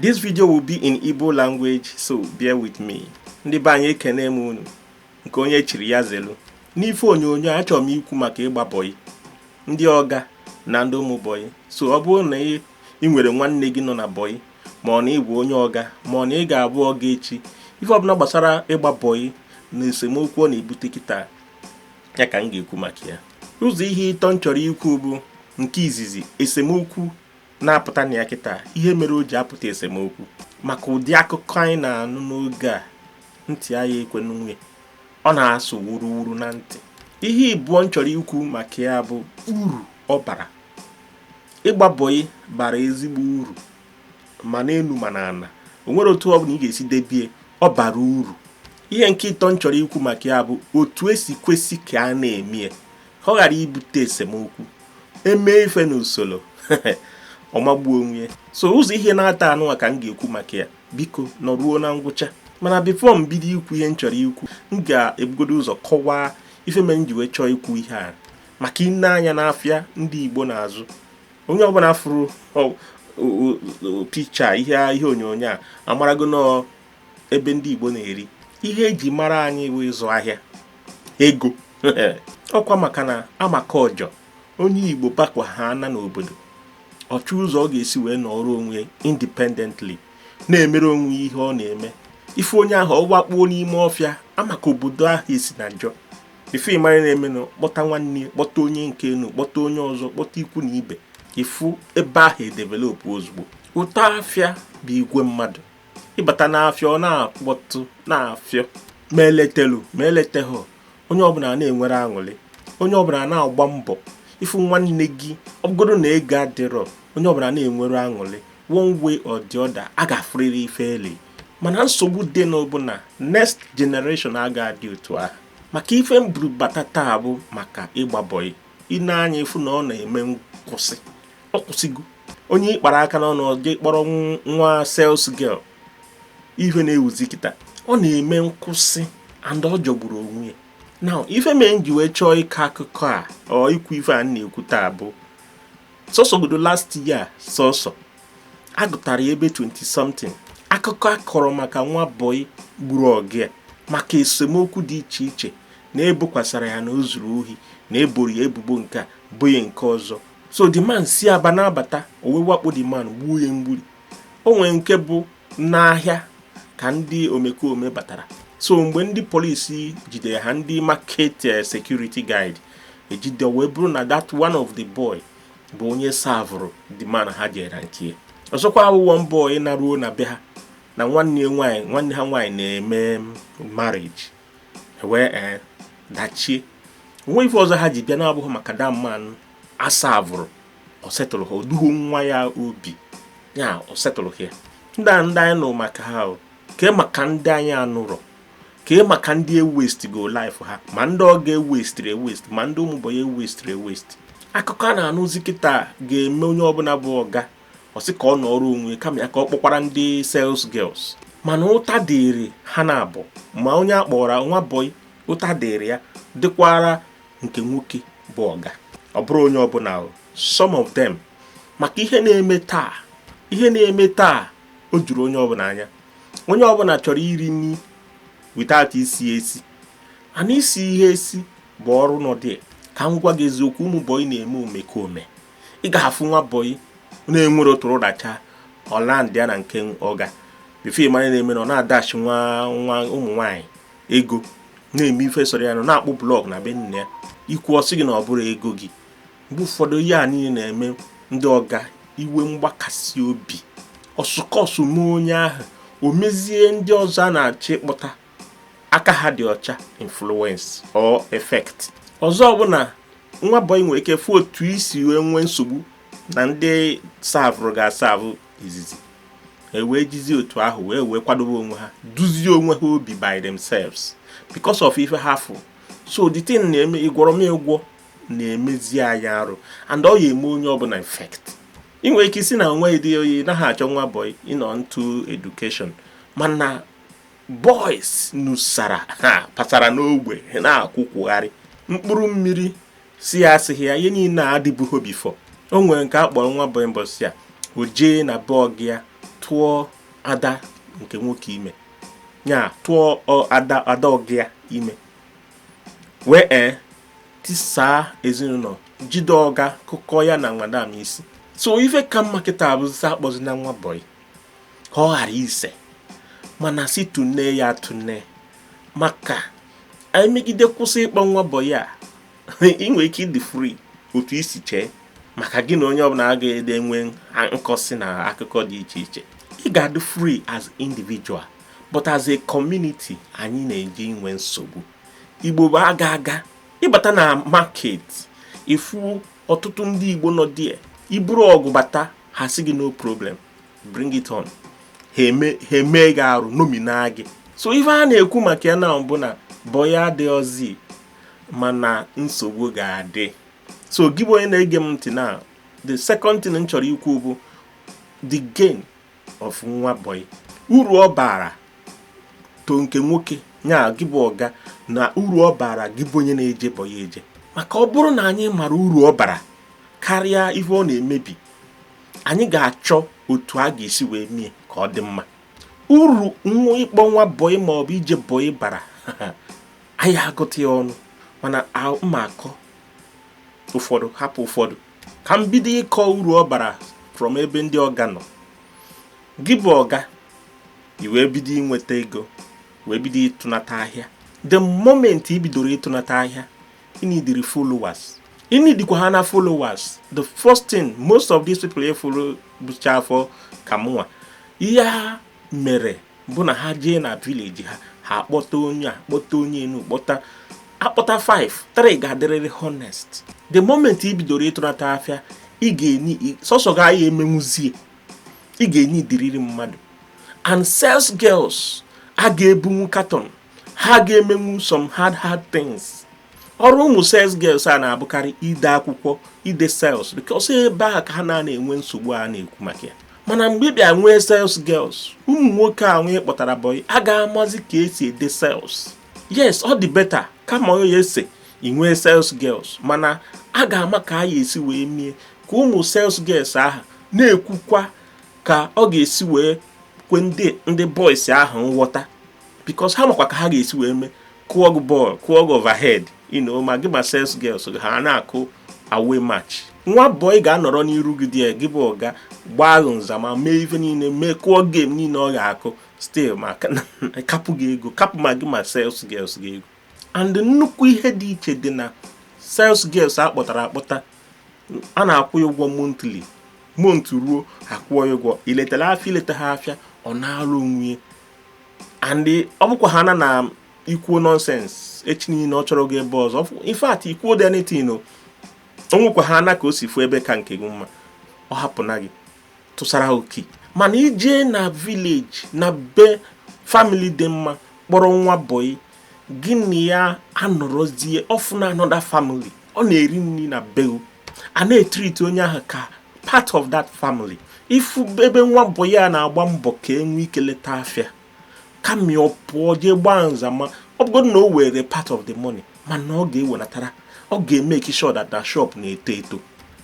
This video will be in Igbo language so bear with me. Ndị be anyị ekene m unu nke onye chiri ya zelu. N'ife onyonyo achọrọ m ikwu maka ịgba bọyị ndị ọga na ndị ụmụ bọyị so ọ bụrụ na ị nwere nwanne gị nọ na bọyị ma ọ na ị bụ onye ọga ma ọ na ị ga-abụ ọga echi ife ọbụna gbasara ịgba bọyị na esemokwu ọ na-ebute kịta ya ka m ga-ekwu maka ya ụzọ ihe ịtọ m chọrọ ikwu bụ nke izizi esemokwu na-apụta na ya kịta ihe mere o ji apụta esemokwu maka ụdị akụkọ anyị na-anụ n'oge a ntị anyị ekwe n'unwe ọ na-asụ wuruwuru na ntị ihe ịbụọ m chọrọ ikwu maka ya bụ uru ọ bara ịgba bọyị bara ezigbo uru ma n'enu ma n'ana o nwere otu ọ bụna ị ga-esi debie ọ bara uru ihe nke ịtọ m chọrọ ikwu maka ya bụ otu e si kwesị ka a na-eme ya ka ọ ghara ibute esemokwu e mee ife n'usoro ọ magbuo onwe ya so ụzọ ihe naatọ nụwa ka m ga-ekwu maka ya biko nọruo na ngwụcha mana before m bido ikwu ihe m chọrọ ikwu m ga-ebugodo ụzọ kọwaa ife mere m ji wee chọọ ikwu ihe a maka ị nee anya n'afịa ndị Igbo na-azụ onye ọbụna fụrụ picture ihe onyonyo a amarago na ebe ndị Igbo na-eri ihe e ji mara anyị bụ ịzụ ahịa ego ọkwa maka na amaka ọjọ onye Igbo bakwa ha ana n'obodo ọ chọọ ụzọ ọ ga-esi wee nọrọ onwe independently na-emere onwe ihe ọ na-eme ị fụ onye ahụ ọ wakpuo n'ime ọfịa amaka obodo ahụ esi na njọ ife ị mara na-emenụ kpọta nwanne ya kpọta onye nke enu kpọta onye ọzọ kpọta ikwu na ibe ị fụ ebe ahụ edevelopụ ozugbo ụtọ afịa bụ igwe mmadụ ị bata n'afịa ọ na-akpọtụ na-afịọ ma e letelu ma e leteghị onye ọbụna na-enwere aṅụrị onye ọbụna na-agba mbọ ị fụ nwanne gị ọ bụgodo na ego adịrọ onye ọbụna na-enwere aṅụrị one way or the other a ga-afụrịrị ife eli mana nsogbu dị nụ bụ na next generation aga-adị otu ahụ maka ife m buru bata taa bụ maka ịgba bọyị ị nee anya ị fụ na ọ na-eme nkwụsị ọ kwụsịgo onye ị kpara aka na ọ kpọrọ nwa sales girl ihe na-ewuzi kịta ọ na-eme nkwụsị and ọ jọgburu onwe ya now ife mee m ji wee chọọ ịkọ akụkọ a or ikwu ife a m na-ekwu taa bụ sọsọ godo last year sọsọ agụtara ya ebe 20 something akụkọ a kọrọ maka nwa bọyị gburu ọga ya maka esemokwu dị iche iche na e bokwasara ya na o zuru ohi na e boro ya ebubo nke a boo ya nke ọzọ so the man si aba na-abata o wee wakpo the man gbuo ya mgburi o nwere nke bụ n'ahịa ka ndị omekome batara so mgbe ndị polisi jidere ha ndị market eh, security guard jide e wee bụrụ na that one of the boy bụ onye savụrụ the man ha jere nke ọzọkwa awụ one boy naruo na be ha na nwanne nwaanyị nwanne ha nwaanyị na-eme marriage e wee ee eh, dachie o nwee ife ọzọ ha ji bịa na-abụghị maka the man a savụrụ ọ setụrọ ha o duho nwa ya obi ya ọ setụrọ ha ndị a ndị anyị nụrụ maka ha kee maka ndị anyị anụrọ kee maka ndị e westigo life ha ma ndị ọga e westiri ewest ma ndị ụmụ bọyị e westiri ewest akụkọ a na-anụzi kịta ga-eme onye ọbụla bụ ọga ọ sị ka ọ nọọrọ onwe kama ya ka ọ kpọkwara ndị sales girls mana ụta dịrị ha naabọ ma onye a kpọrọ nwa bọị ụta dịrị ya dịkwara nke nwoke bụ ọga ọ bụrọ onye ọbụla some of them maka ihe na-eme taa ihe na-eme taa o juru onye ọbụla anya onye ọbụla chọrọ iri nri without isi ihe esi and isi ihe esi bụ ọrụ nọdị ka m gwa gị eziokwu ụmụ bọyị na-eme omekome ị ga-afụ nwa bọyị na-enwere otu ụdacha ọ landị ya na nke ọga bifọ ị mara ihe na-eme na ọ na-adashị nwa nwa ụmụ nwaanyị ego na-eme ife sọrọ ya nọ na-akpụ blọk na be nne ya i kwuo ọ sị gị na ọ bụrọ ego gị mgbe ụfọdụ ihe a niile na-eme ndị ọga iwe mgbakasị obi o si ka o si mee onye ahụ o mezie ndị ọzọ a na-achọ ịkpọta aka ha dị ọcha influence or effect ọzọ bụ na nwa bọyị nwere ike fụ otu e si wee nwee nsogbu na ndị savụrụ ọga asavụ izizi e wee jizie otu ahụ wee wee kwadobe onwe ha duzie onwe ha obi by themselves because of ife ha fụ so the thing na-eme ịgwọrọ m ụgwọ na-emezi anyị arụ and ọ ya-eme onye ọbụla effect ị nwere ike ịsị na nwa dị o ị naghị achọ nwa bọyị ị nọ into edukeshọn mana boys nusara ha pasara n'ogbe na-akwụkwụgharị mkpụrụ mmiri si ya esighị ya ihe niile a adịbụghị bifọ o nwere nke a kpọrọ nwa bọyị mbọsị a o jee na be ọga ya tụọ ada nke nwoke ime ya tụọ ada ada ọga ya ime wee ee tisaa ezinụlọ jide ọga kụkọ ya na madam isi so ife ka mma kịta bụzị sị akpọzina nwa bọyị ka ọ ghara ise mana sị tụnee ya tụnee maka anyị megide kwụsị ịkpọ nwa bọyị a ị nwere ike ịdị fri otu i si chee maka gị na onye ọbụla agadịghị enwe nkọsi na akụkọ dị iche iche ị ga-adị fri as individual but as a community anyị na-eje inwe nsogbu igbo bụ aga aga ị bata na market ị fụ ọtụtụ ndị igbo nọ there i buru ọgụ bata ha sị gị no problem bring it on ha eme gị arụ nomina gị so ife a na-ekwu maka ya na-abụ na bọyị adịghịzi mana nsogbu ga-adị so gị bụ onye na-ege m ntị na the second thing m chọrọ ikwu bụ the gain of nwa bọyị uru ọ bara to nke nwoke ya gị bụ ọga na uru ọ bara gị bụ onye na-eje bọyị eje maka ọ bụrụ na anyị mara uru ọ bara karịa ihe ọ na-emebi anyị ga-achọ otu a ga-esi wee mie ka ọ dị mma uru nwa ịkpọ nwa bọyị ma ọ bụ ije bọyị bara a ya-agụta ya ọnụ mana m ma-akọ ụfọdụ hapụ ụfọdụ ka m bido ịkọ uru ọ bara from ebe ndị ọga nọ gị bụ ọga i wee bido inweta ego wee bido ịtụnata ahịa the moment i bidoro ịtụnata ahịa ị nidiri followers ị nidikwa ha na followers the first thing most of these people ị fụrụ bucha afọ ka mụnwa ihe ha mere bụ na ha jee na vileji ha ha akpọta onye a kpọta onye nụ kpọta akpọta 5 3 ga-adịrịrị honest the moment i bidoro ịtụnata afịa ị ga-eni sọsọ gị a ya-emenwuzie ị ga-enidiriri mmadụ and sales girls a ga-ebunwu katon ha ga-emenwu some hard hard things ọrụ ụmụ sales girls a na-abụkarị ide akwụkwọ ide sales because ebe a ka ha na-enwe nsogbu a na-ekwu maka ya mana mgbe ị bịa nwee sales girls ụmụ nwoke ahụ ị kpọtara bọyị a ga-amazi ka e si ede sales yes ọ dị beta kama onye ya ese ị nwee sales girls mana a ga-ama ka a ya esi wee mie ka ụmụ sales girls ahụ na-ekwukwa ka ọ ga-esi wee kwe ndị ndị boys ahụ nghọta because ha makwa ka ha ga-esi wee mee kụọ gị bọọlụ kụọ gị overhead you know ma gị ma sales girls ha na-akụ away match nwa bọị ga-anọrọ n'iru gị dị gị bụ ọga gbaa ahụ nzama mee ife niile mee kụọ game niile ọ ga-akụ still ma kapụ gị ego kapụ ma gị ma sales girls gị ego and nnukwu ihe dị iche dị na sales girls a kpọtara akpọta a na-akwụ ya ụgwọ monthly month ruo a kwụọ ya ụgwọ i letara afịa i letaha afịa ọ naala ọnwa ya and ọ bụkwa ha na na i kwuo nonsense echi niile ọ chọrọ ga ebe ọzọ in fact i kwuodị anything o nwekwa ha na ka o si fụ ebe ka nke gị mma ọ hapụ na gị tụsara oke mana i jee na village na be family dị mma kpọrọ nwa bọyị gị na ya anọrọzie ọfụ na another family ọ na-eri nri na beu a na-etreat onye ahụ ka part of that family ị fụ ebe nwa bọyị a na-agba mbọ ka e nwee ike leta afịa kama ọ pụọ jee gbaa nza ma ọ bụgodị na o were part of the money mana ọ ga-ewenatara ọ ga-emake sure that that shop na-eto eto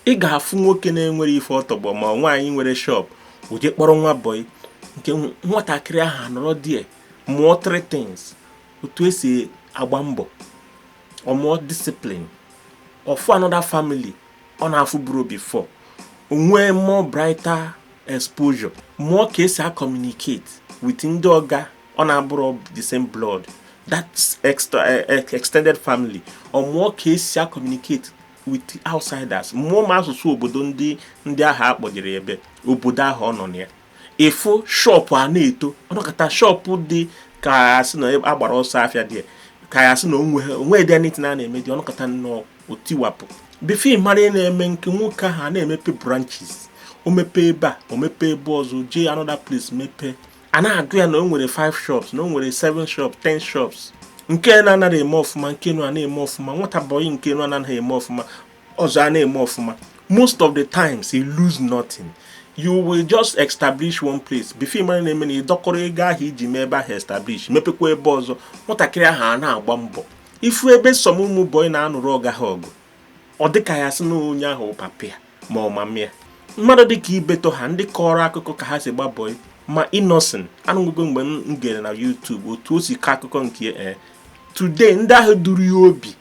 ị ga-afụ nwoke na-enwere ife ọ tọgbọ ma nwaanyị nwere shop o jee kpọrọ nwa bọyị nke nwatakịrị ahụ anọrọ there mụọ three things otu esi agba mbọ ọ mụọ discipline ọ fụ another family ọ na-afụburu before o nwee more brighter exposure mụọ ka esi acommunicate with ndị ọga ọ na-abụrụ the same blood that extra, eh, eh, extended family ọ mụọ ka esi acommunicate with outsiders mụọ ma asụsụ obodo ndị ndị ahụ akpọjere ya ebe obodo ahụ ọ nọ na ya ị fụ shop a na-eto ọ nọkata shop dị ka asị na agbara ọsọ afịa there ka asị na o nwedị anything a na-eme there ọ nọkata nnọọ o tiwapụ before ị mara ihe na-eme nke nwoke ahụ a na-emepe branches o mepee ebe a o mepee ebe ọzọ jee another place mepee a na-agụ ya na o nwere 5 shops na o nwere 7 shops 10 shops nke na-anaghị eme ọfụma nke nụ a na-eme ọfụma nwata bọyị nke nụ anaghị eme ọfụma ọzọ a na-eme ọfụma most of the times you lose nothing you will just establish one place before ị mara ihe na-eme na ị dọkọrọ ego ahụ i ji mee ebe ahụ establish mepekwa ebe ọzọ nwatakịrị ahụ a na-agba mbọ ị fụ ebe some ụmụ bọyị na-anụrụ ọga ha ọgụ ọ dịka a sị na onye ahụ papa ya ma ọ mama ya mmadụ dịka Ibeto ha ndị kọrọ akụkọ ka ha si gbaa bọyị ma Innoson o nwego mgbe m gere na YouTube otu o si kọ akụkọ nke ee eh, today ndị ahụ duru ya obi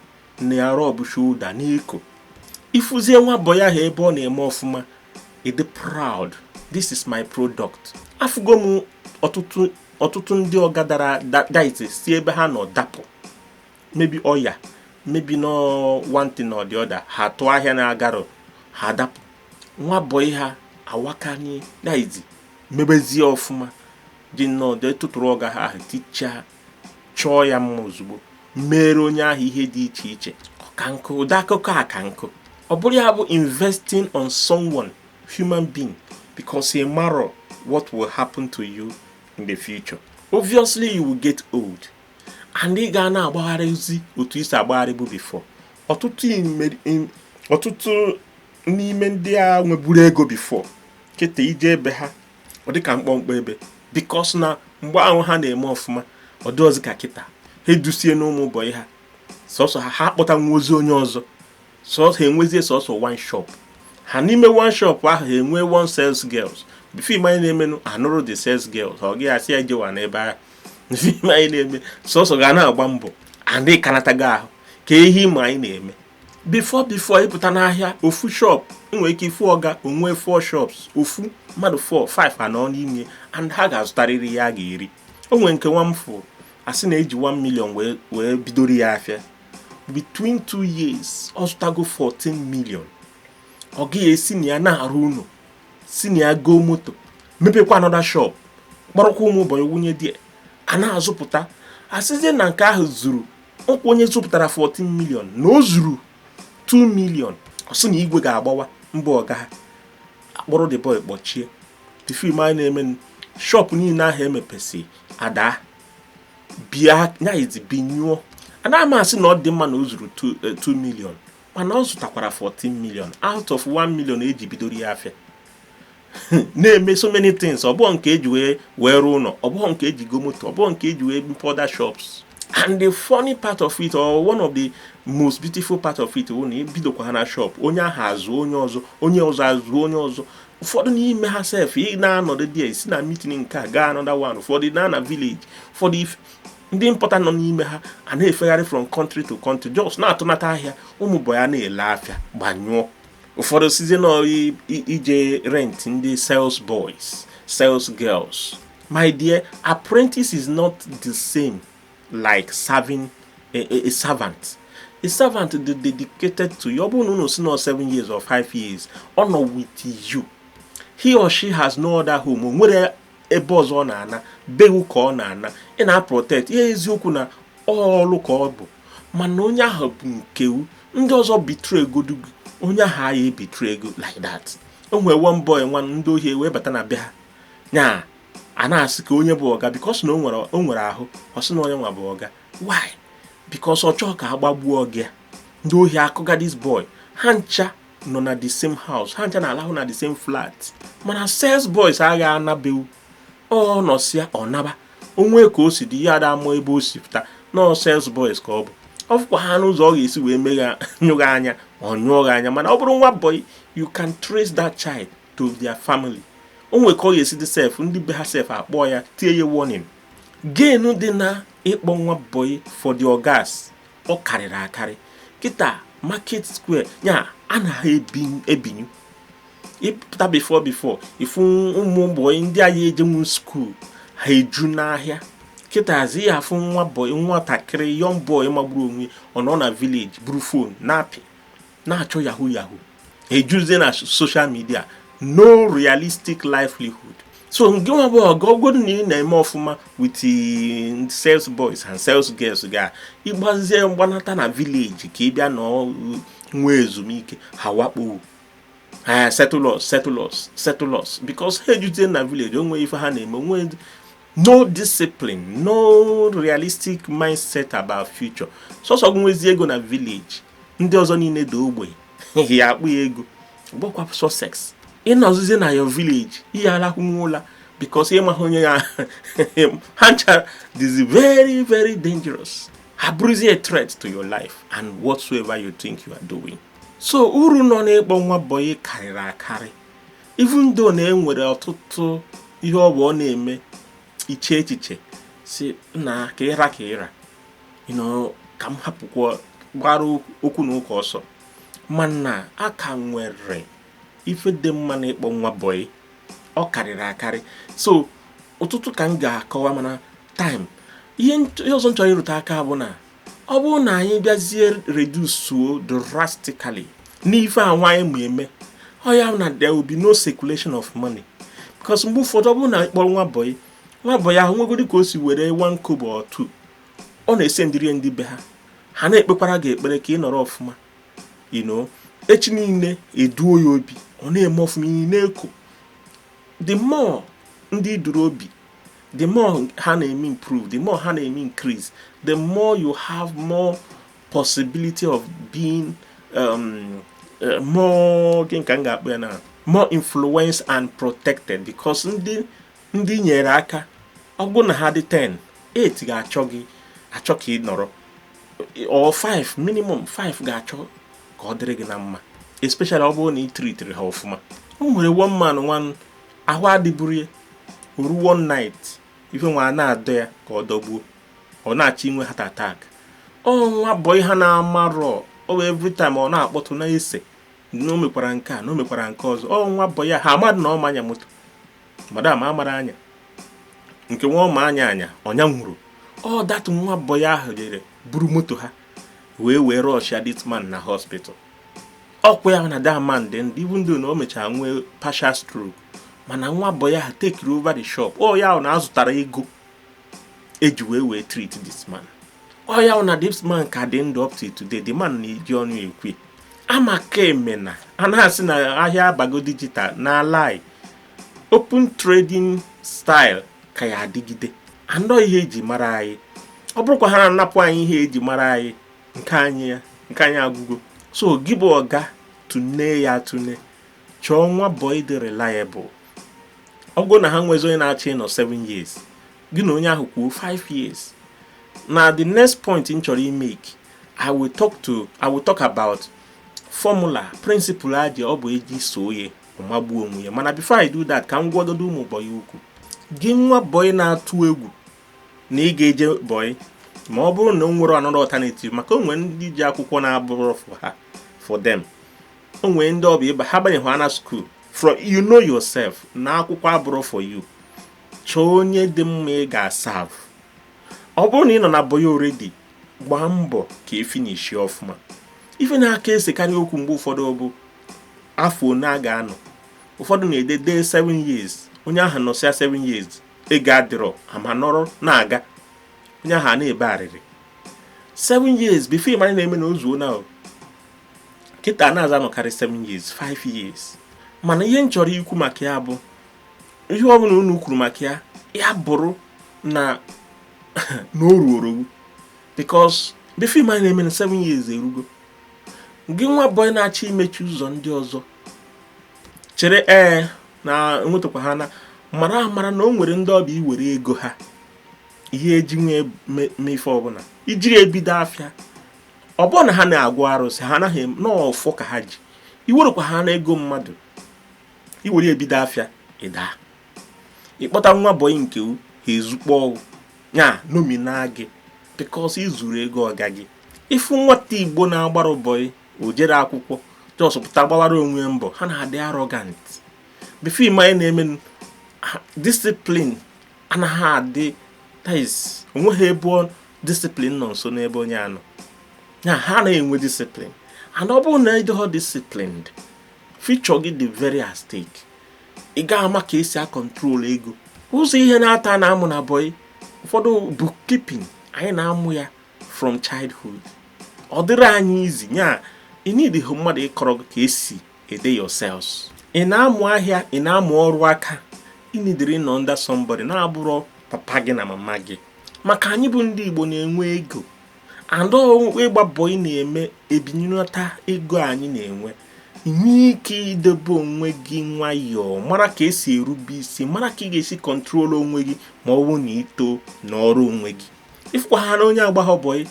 na ya rub shoulder n'iko ị fụzie nwa bọyị ahụ ebe ọ na-eme ọfụma ị dị proud this is my product afụgo m ọtụtụ ọtụtụ ndị ọga dara daite si ebe ha nọ dapụ maybe ọya maybe nọ one thing or the other ha tụọ ahịa na-agarọ ha dapụ nwa bọyị ha awakanye daidi mebezie ọfụma jee nnọọ jee tụtụrụ ọga ha ahụ tichaa chọọ ya mma ozugbo meere onye ahụ ihe dị iche iche ọka nkụ ụdị akụkọ a ka nkụ ọ bụrụ ya bụ investing on someone human being because ị marọ what will happen to you in the future obviously you will get old and ị ga na-agbagharịzi otu i si agbagharịbu before ọtụtụ ọtụtụ n'ime ndị a nweburu ego before kịta i jee ebe ha ọ dị ka mkpọmkpọ ebe because na mgbe ahụ ha na-eme ọfụma ọ dịghịzi ka kịta ha edusienụ ụmụ boy ha sọsọ ha ha akpọta nwa ozi onye ọzọ sọsọ ha enwezie sọsọ one shop ha n'ime one shop ahụ ha enwee one sales girls film anyị na-emenụ anụrụ the sales girls ọga asị ya jewa n'ebe ahụ film anyị na-eme sọsọ ọga na-agba mbọ adị kanatago ahụ ka ehi ma anyị na-eme before before ịpụta n'ahịa ofu shop nwere ike ịfụ ọga o nwee four shops ofu mmadụ four five anọ n'ime and ha ga-azụtarịrị ihe a ga-eri o nwere nke nwa m fụ asị na eji 1 million wee wee bidoro ya afịa between two years ọ zụtago 14 million ọga ya esi na ya na-arụ ụlọ si na ya goo moto mepekwa another shop kpọrọkwa ụmụ boy wunye ndị a na-azụpụta asịzie na nke ahụ zuru ọkwa onye zụpụtara 14 million na o zuru 2 million ọ sị na igwe ga-agbawa mba ọga ha akpọrọ the boy kpọchie the film anyị na-eme shop niile ahụ emepesị adaa bịa nyaghịzi binyụọ anaghị m asị na ọ dị mma na o zuru 2 eh, million mana ọ zụtakwara 14 million out of 1 million eji bidoro ya afịa na-eme so many things ọ bụghị nke eji wee wee rụọ ụlọ ọ bụghị nke eji goo moto ọ bụghị nke eji wee mepee shops and the funny part of it or one of the most beautiful part of it bụ na e bidokwa ha na shop onye ahụ azụ onye ọzọ onye ọzọ azụ onye ọzọ ụfọdụ n'ime ha sef ị na-anọdụ dị esi na meeting nke a gaa another one ụfọdụ na na village ụfọdụ ife ndị important nọ n'ime ha a na-efegharị from country to country just na-atụnata ahịa ụmụ boy ya na-ele afịa gbanyụọ ụfọdụ sizie na ije rent ndị sales boys sales girls my dear apprentice is not the same like serving a, a, a servant a servant dị dedicated to you ọ bụrụ na unu sị nọ 7 years or 5 years ọ nọ with you he or she has no other home o nwerọ ebe ọzọ ọ na-ana be wụ ka ọ na-ana ị na-aprotect ya eziokwu na ọlụ ka ọ bụ mana onye ahụ bụ nke wụ ndị ọzọ betraygodu gị onye ahụ aya ebetray gị like that o nwere one boy nwa ndị ohi wee bata na be ha nya a na-asị ka onye bụ ọga because na o nwere ahụ ọ sị na ọ nya nwa bụ ọga why because ọ chọọ ka a gbagbuo ọga ndị ohi akụga this boy ha ncha nọ na the same house ha ncha na-alahụ na the same flat mana sales boys agha ana be wụ ọ nọsịa ọ naba o nwee ka o si dị ya ada ama ebe o si pụta na ọ sales boys ka ọ bụ ọ fụkwa ha n'ụzọ ọ ga-esi wee megha nyụọ gị anya ọ nyụọ gị anya mana ọ bụrụ nwa boy you can trace that child to their family o nwere ka ọ ga-esi dị sef ndị be ha sef akpọọ ya tie ya warning gain dị na ịkpọ nwa boy for the ogas ọ karịrị akarị kịta market square ya anaghị ebinyu ị pụta before before ị fụ ụmụ boy ndị aya ejenwu school ha eju n'ahịa kịtazi ị ya-afụ nwa boy nwatakịrị young boy magburu onwe ọ nọ na village buru phone na-apị na-achọ yahoo yahoo ejuzie na social media no realistic livelihood so ngị nwa bụ ọga ọ bụgodu na ị na-eme ọfụma with eh, sales boys and sales girls gị ị gbazie mgba nata na village ka ị bịa nọ nwee ezumike ha wakpo ee eh, settle us settle us settle us because ha ejuzie na village o nwehọ ife ha na-eme onwe no discipline no realistic mindset about future sọsọ gị nwezi ego na village ndị ọzọ niile dị ogbenye ị ya-akpụ ya ego gbakwa ọsọ else ị nọzizie na your village ị ya alakwụnwu ụla because ị maghị onye ya ha nchara this very very dangerous ha bụrụzie a threat to your life and whatsoever you think you are doing so uru nọ n'ịkpọ nwa boy karịrị akarị even though na e nwere ọtụtụ ihe ọ bụ ọ na-eme i chee echiche sị na ka ịra ka ịra ka m hapụkwa gbara okwu na ụka ọsọ mana a ka nwere ife dị mma na ịkpọ nwa boy ọ karịrị akarị so ọtụtụ ka m ga-akọwa mana time ihe ọzọ m chọrọ ịrụtụ aka bụ na ọ bụrụ na anyị bịazie redusuo drastically n'ife a nwa anyị na-eme ọ ya na there will be no circulation of money because mgbe ụfọdụ ọ bụrụ na ị kpọrọ nwa boy nwa boy ahụ nwegodi ka o si were one kobo or two ọ na-esendirie ndị be ha ha na-ekpekwara gị ekpere ka ị nọrọ ọfụma you know echi niile i duo ya obi ọ na-eme ọfụma i na-eko the more ndị i duru obi the more ha na-eme improve the more ha na-eme increase the more you have more possibility of being um, uh, more gịnị ka m ga-akpọ ya na more influence and protected because ndị i nyere aka ọ bụrụ na ha dị 10 8 ga-achọ ga-achọ ka ị nọrọ or 5 minimum 5 ga-achọ ka ọ dịrị gị na mma especially ọ bụrụ na ị tritiri ha ọfụma o nwere one man nwa ahụ adịburọ ya o ru one night ife nwa na-adọ ya ka ọ dọgbuo ọ na-achọ inwe heart attack ọ nwa boy ha na-amarọ ọ bụ every time ọ na-akpọtụ na-asị na o mekwara nke a na o mekwara nke ọzọ ọ nwa boy a ha amadị na ọ ma anya moto madam amarọ anya nke nwa ọ ma anya anya ọ nyanwurọ ọ that nwa boy ahụ jere buru moto ha wee wee rushia this man na hospital ọkwa ya na that man dị ndụ even though na o mechara nwee partial stroke mana nwa bọyị ahụ take over the shop ọ ya na azụtara ego eji wee wee treat this man ọ ya na this man ka dị ndụ up to today the man na-eji ọnụ ekwu amaka emena a na-asị na ahịa abago digital na lie open trading style ka ya adịgide anọ ihe eji mara anyị ọ bụrụkwa ha na-anapụ anyị ihe eji mara anyị nke anyị ya nke anyị agwụgo so gị bụ ọga tụne ya atụne chọọ nwa bọị dị reliable ọ bụrụ na ha nwezi onye na-achọ ịnọ 7 years gị na onye ahụ kwuo 5 years na the next point m chọrọ imake i will talk about formula principle aja ọ bụ eji soo ya ọ magbuo onwe ya mana before i do that ka m gwagodo ụmụ bọyị okwu gị nwa bọyị na-atụ egwu na ị ga-eje bọị ma ọ bụrụ na o nwere another alternative maka o nwere ndị ji akwụkwọ na-abụrọ for them o nwere ndị ọ bụ ịba ha banye ha na school from you know yourself na akwụkwọ abụrọ for you chọọ onye dị mma ị ga-aserve ọ bụrụ na ị nọ na bọị already gbaa mbọ ka efinishi ọfụma ife na-aka esekarị okwu mgbe ụfọdụ bụ afọ one a ga-anọ ụfọdụ na-ede dee 7 years onye ahụ nọsịa 7 years ego adịrọ ama nọrọ na-aga onye ahụ a na-ebe arịrị seven years before ịmara na-eme na o zuo na kịta nazị anọkarị seven years five years mana ihe m chọrọ ikwu maka ya bụ ihe ọ bụla unu kwuru maka ya ya bụrụ na o ruo o ruo because before ịmara na-eme na seven years erugo gị nwa bọyị na-achọ imechi ụzọ ndị ọzọ chere ee na enwetakwa ha na mara amara na o nwere ndị ọ bụ iwere ego ha ihe eji wee mee ife ọbụla iji ebido afịa ọ bụrụ na ha na-agọ arụsị ha anaghị n'ọfọ ka ha ji iwerekwa ha na ego mmadụ iwere ebido afịa ịda ịkpọta nwa bọyị nke ha ezukpọ ya nomina gị because i zuru ego ọga gị ịfụ nwata igbo na-agbarọ bọyị o jere akwụkwọ just pụta gbawara onwe ya mbọ ha na-adị arrogant before ịma na-eme discipline anaghị adị that is o nweghị ebe discipline nọ nso n'ebe onye a nọ ha na-enwe discipline and ọ bụrụ na ị dịghọ disciplined future gị dị very at stake ị ga-ama ka esi acontrol ego ụzọ ihe nwata na-amụ na bọyị ụfọdụ bookkeeping anyị na-amụ ya from childhood ọ dịrị anyị easy nya ị needịghị mmadụ ịkọrọ gị ka esi ede your sales ị na-amụ ahịa ị na-amụ ọrụ aka ị needịrị ịnọ under somebody na-abụrọ papa gị na mama gị maka anyị bụ ndị Igbo na-enwe ego and ịgba bọyị na-eme ebinyelata ego anyị na-enwe ị nwee ike idebe onwe gị nwayọọ mara ka esi erube isi mara ka ị ga-esi control onwe gị ma ọ bụrụ na i too nọrọ onwe gị ị fụkwa ha na onye agbaghị bọyị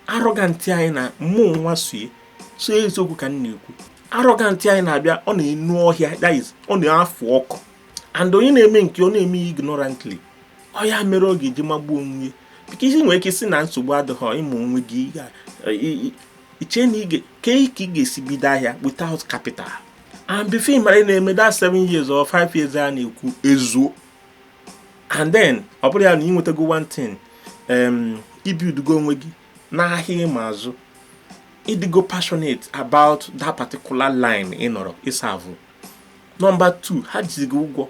arrogant anyị na mụnwa so ee eziokwu ka m na-ekwu arrogant anyị na-abịa ọ na-enu ọhịa that is ọ na-afụ ọkụ and onye na-eme nke ọ na-eme ya ignorantly ọ ya mere ọ ga-eji magbuo onwe ya because i nwere ike sị na nsogbu adịghị ịmụ onwe gị iche na ige ka ị ga-esi bido ahịa without capital and before ị mara na-eme that 7 years or 5 years a na-ekwu ezuo and then ọ bụrụ ya na ị nwetago one thing um, ị buildugo onwe gị n'ahịa ịma azụ ị dịgo passionate about that particular line ị nọrọ serve number 2 ha jizi gị ụgwọ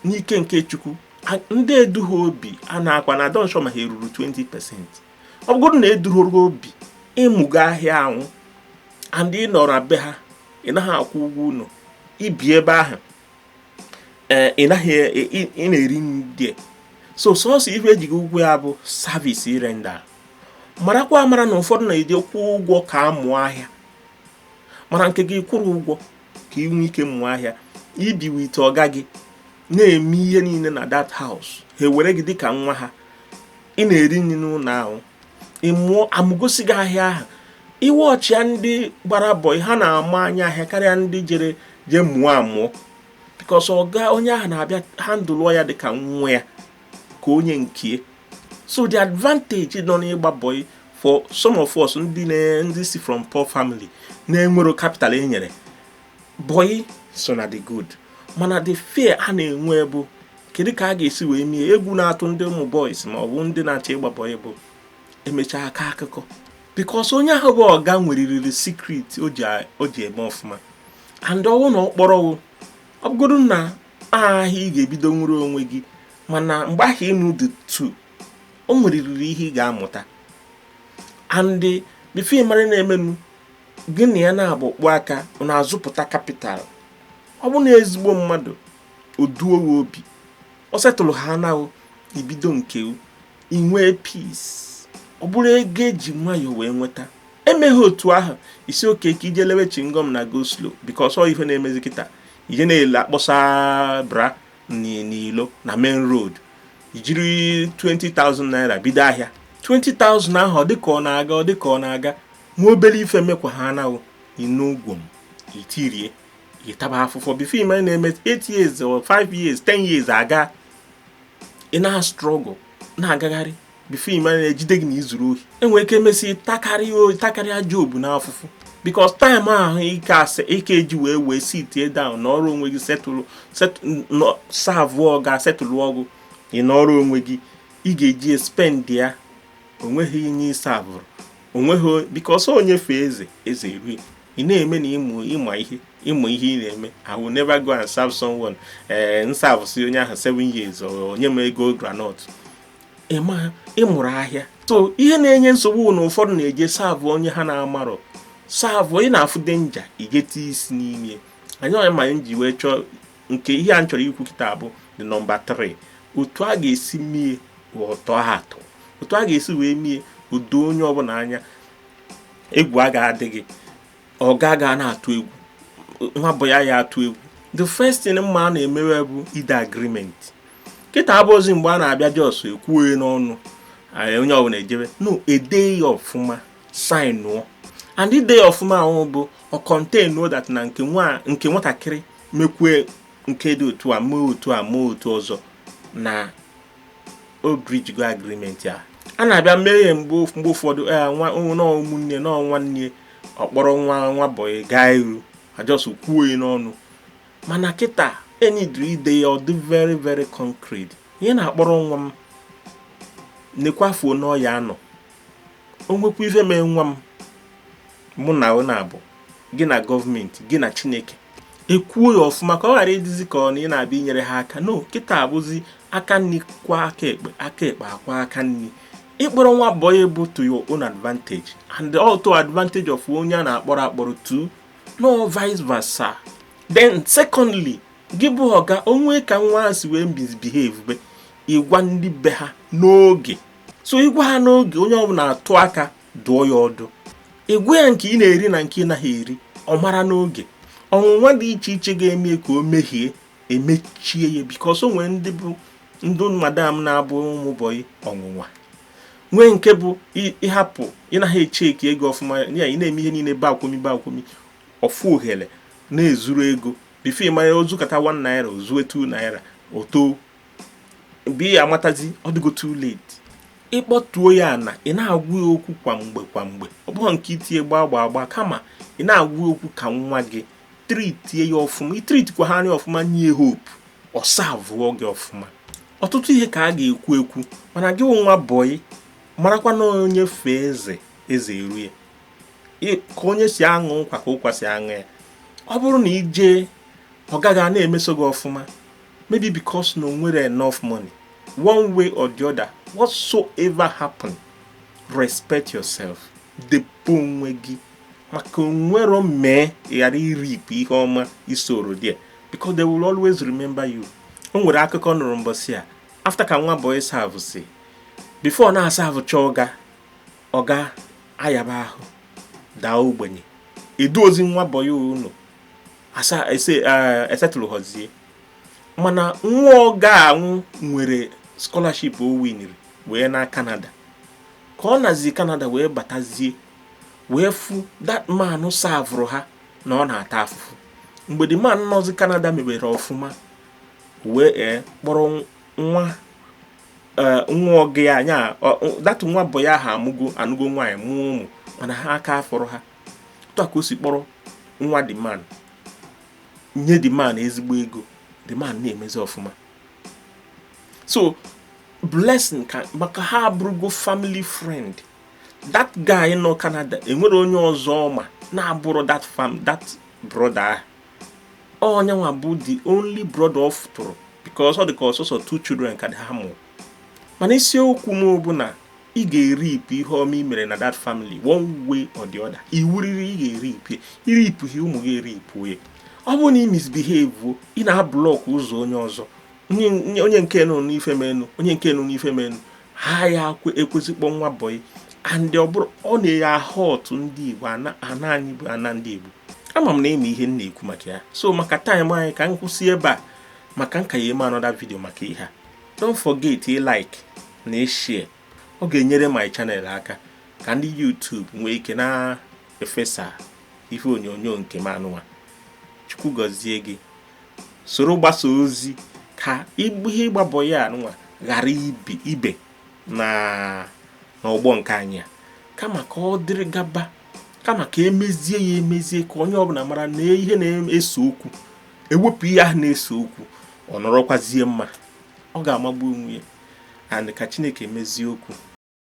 n'ike nke Chukwu ndị eduhọ obi a na-akọ na I don't sure ma ha eruru 20 percent ọ bụrụ na eduhoro obi ị mụgo ahịa ahụ and ị nọrọ be ha ị naghị akwụ ụgwọ ụlọ i bi ebe ahụ ee ị naghị e, e, ị na-eri nri so sọsọ ife e ji gị ụgwọ ya bụ service ị render marakwa amara na ụfọdụ na-eje kwụọ ụgwọ ka a mụọ ahịa mana nke gị ị kwụrọ ụgwọ ka ị nwee ike mụọ ahịa i bi with ọga gị na-eme ihe niile na that house ha ewere gị dịka nwa ha ị na-eri nri n'ụlọ ahụ ị mụọ amụgosi gị ahịa ahụ ị watchịa ndị gbara bọị ha na-ama anya ahịa karịa ndị jere jee mụọ amụọ because ọga onye ahụ na-abịa handle ya dịka nwa ya ka onye nke so the advantage nọ n'ịgba bọị for some of us ndị ndị si from poor family na-enwerọ capital e nyere bọyị so ọ na-adị good mana the fear a na-enwe bụ kedu ka a ga-esi wee mee egwu na-atụ ndị ụmụ boys ma ọ bụ ndị na-achọ ịgba bọyị bụ emechaa a kọọ akụkọ because onye ahụ bụ ọga nwereriri secret o ji eme ọfụma and ọ wụ na ọkpọrọwụ ọ bụgodu na ahịa ị ga-ebido nwere onwe gị mana mgbe ahụ ị nọdụtụ o nwereriri ihe ị ga-amụta and before ị mara na-emenu gị na ya na-abụ kpụ aka na azụpụta capital ọ bụ na ezigbo mmadụ oduo gị obi ọ settle ha na ibido nke inwee peace ọ bụrụ ego eji nwayọọ wee nweta emeghị otu ahụ ị sị okay ka i je lewe chewing gum na go slow because ọ ife na-emezi kịta ije na-ele akpọsa bra n'ilo na main road ijiri 20,000 naira bido ahịa 20,000 ahụ ọ dịka ọ na-aga ọ dịka ọ na-aga nwa obele ife mekwa ha na ị nụ gwom itirie ịtaba afụfụ before ị ma na-eme 8 years or 5 years 10 years aga ị na-struggle na-agagharị before ị ma ejide gị na izuru ohi enwere ike emesi takarịa oyi takarịa jobu na afụfụ because time ahụ ị ka-asị ị ka-eji wee wee sit down nọrọ onwe gị settle serve ọga settle ọ gị ị nọrọ onwe gị ị ga-eji spend ya onweghị ihe ịsavụrụ onweghị because onye fee eze eze erue ị na-eme na ịma ịma ihe ịma ihe ị na-eme I will never go and serve someone ee eh, m savụsị onye ahụ seven years o nye m ego groundnut ịma ịmụrụ ahịa so ihe na-enye nsogbu na ụfọdụ na-eje serve onye ha na-amarọ serve onye na-afụ danger igete isi n'ime anyị onye ma anyị ji wee chọọ nke ihe a m chọrọ ikwu kịta bụ the number 3 otu a ga-esi mie ụtọ atọ otu a ga-esi wee mie o doo onye ọbụla anya egwu aga adịghị ọga aga na-atụ egwu nwa bọyị ya atụ egwu the first thing m ma a na-emewe bụ ide agreement kịta abụrọzi mgbe a na-abịa just ekwuo n'ọnụ onye ọbụla ejebe no ede ya ọfụma sainụọ and ide ya ọfụma ahụ bụ ọ contain that na nke nwatakịrị mekwue nke dị otu a mee otu a mee otu ọzọ na o breach go agreement a a na-abịa mee ya mgbe ụfọdụ e, nwa ụmụnne na nwanne ọ kpọrọ nwa nwa bọyị garuo a just kwuo ya n'ọnụ mana kịta e needịrị ide ya ọ dị very very concrete onye na-akpọrọ nwa m nekwa afọ one ọ ya-anọ o nwekwa ife mee nwa m mụ na ọ na-abụ gị na gọọmenti gị na chineke ekwuo ya ọfụma ka ọ ghara ịdịzi ka ọ na ị na-abịa inyere ha aka no kịta bụzi aka nni kwọọ aka ekpe aka ekpe akwọọ aka nni ịkpọrọ nwa bọyị bụ to your own advantage and also advantage of onye a na-akpọrọ akpọrọ too no vice versa then secondly gị bụ ọga o nwee ka nwa si wee misbehave be ị gwa ndị be ha n'oge so ịgwa ha n'oge onye ọbụla atụ aka dụọ ya ọdụ ịgwa ya nke ị na-eri na nke ị naghị eri ọ mara n'oge ọnwụnwa dị iche iche ga-eme ka o mehie emechie ya because o nwere ndị bụ ndị madam na-abụ ụmụ bọyị ọnwụnwa nwee nke bụ ị hapụ ị naghị echeki ego ọfụma ya ị na-eme ihe niile bakwụmi bakwụmi ọ fụ ohere na-ezuru ego before ị mara o zukata 1 naira o zue 2 naira oto mgbe ị ya-amatazi ọ dịgo too late ị kpọtuo ya na ị na-agwa ya okwu kwa mgbe kwa mgbe ọ bụghị nke itinye gbaa gbaa agba kama ị na-agwa ya okwu ka nwa gị tritie ya ọfụma i tritikwaa ya ọfụma nye hope ọ savụọ gị ọfụma ọtụtụ ihe ka a ga-ekwu ekwu mana gị nwa bọyị marakwa na onye fee eze eze eru ya ka onye si aṅụ nkwa ka ụkwa si aṅụ ya ọ bụrụ na ị jee ọga gị ana-emeso gị ọfụma maybe because na o nwerọ enough money one way or the other whatsoever happen respect yourself debe onwe gị maka o nwerọ mee ghara ịreap ihe ọma ị sowrọ there because they will always remember you o nwere akụkọ m nụrụ mbọsị a after ka nwa boy savụsị before na-asavụcha ọga ọga ya bụ ahụ daa ogbenye e duozi nwa bọyị anụ asa ese eh, e setụlụọzie mana nwa ọga ahụ nwere scholarship o winiri wee naa Canada ka ọ nazi Canada wee batazie wee fụ that man savụrụ ha na ọ na-ata afụfụ mgbe the man nọzi Canada mebere ọfụma wee eh, kpọrọ nwa eh, nwa ọga ya anwa that nwa bọyị a ha amụgo anụgo nwaanyị mụọ ụmụ mana ha aka afọrọ ha otu a ka o si kpọrọ nwa the man nye the man ezigbo ego the man na-emezi ọfụma so blessing ka maka ha abụrụgo family friend that guy nọ Canada enwerọ onye ọzọ ọ ma na-abụrọ that fam that brother ahụ ọ ya nwa bụ the only brother ọ fụtụrụ because ọ dị ka ọ sọsọ two children ka daddy ha mụrụ mana isiokwu m bụ na ị ga-ereap ihe ọma i mere na that family one way or the other iwu riri ị ga-ereap ị reapụghị ụmụ gị ereapụ ya ọ bụrụ na ị misbehave ị na-ablọk ụzọ onye ọzọ onye nke nụna ife menụ onye nke nụna ife menụ ha ya-ekwezi kpọ nwa bọyị and ọ bụrụ ọ na-ahurt ndị Igbo ana anyị bụ ana ndị Igbo ama m na ị ma ihe m na-ekwu maka ya so maka time anyị ka m kwụsị ebe a maka m ka ya-eme another video maka ihe a don't forget ịlike na ịshare ọ ga-enyere my channel aka ka ndị YouTube nwee ike na-efesa ihe onyonyo nke m anụwa chukwu gọzie gị soro gbasa ozi ka ihe ịgba boy a nwa ghara ibe na ọgbọ nke anyị a kama ka ọ dịrị gaba kama ka e mezie ya emezie ka onye ọbụla mara na ihe na-ese okwu e wepụ ihe ahụ na-ese okwu ọ nọrọkwazie mma ọ ga-amagbu onwe ya and ka chineke mezie okwu